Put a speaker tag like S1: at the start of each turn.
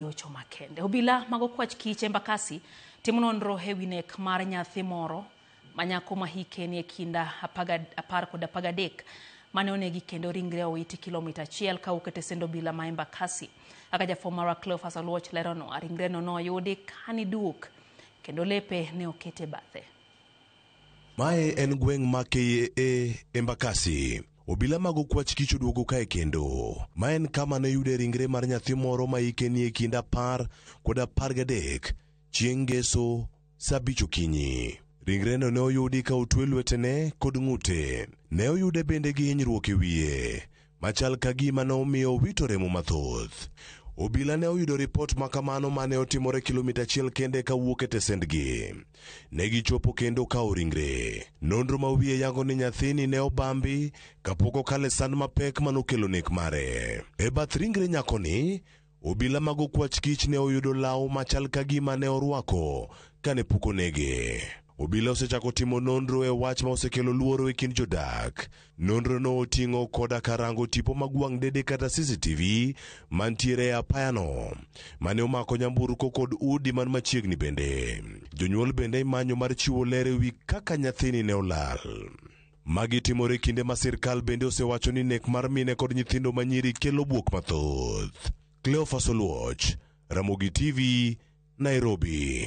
S1: Ocho makende. Obila mag okwach kich Embakasi timo nonro e wi nek mar nyathi moro ma nyako ma hike nie kinda apaga- apar kod apar gadek mane onegi kendo ringre owiti kilomita achiel ka wuok e tesend obila ma Embakasi. Kaka jafwambo marwa Cleophas Oluoch leronwa, ringreno noyudi ka niduok kendo lepe ne oket e bathe.
S2: Mae en gweng' ma KAA Embakasi. Obila mag okwach kich oduogo kae kendo. Ma en kama ne yude ringre mar nyathi moro ma hike nie kind apar kod apar gadek chieng' ngeso saa abich okinyi. Ringreno ne oyudi ka otwe lwetene kod ng'ute. Ne oyude bende gi hinyruok e wiye. machal ka gima ne omiyo owito remo mathoth. Obila ne oyudo ripot ma kamano ma ne otimore kilomita achiel kende ka wuok e tesendgi. Ne gichopo kendo kawo ringre. Nonro ma wiye yango ni nyathini ne obambi kapok okale sand mapek ma nokelo nek mare. E bath ringre nyakoni, Obila mag okwach kich ne oyudo law machal ka gima ne orwako kane pok onege. Obila osechako timo nonro e wach ma osekelo luoro e kind jodak. Nonrono oting'o koda karango tipo mag wang' dede kata CCTV mantiere e apayano mane omako nyamburko kod udi man machiegni bende. Jonyuol bende imanyo mar chiwo ler e wi kaka nyathini ne olal. Magi timore kinde ma sirkal bende osewacho ni nek mar mine kod nyithindo ma nyiri kelo buok mathoth. Cleophas Oluoch, Ramogi TV, Nairobi.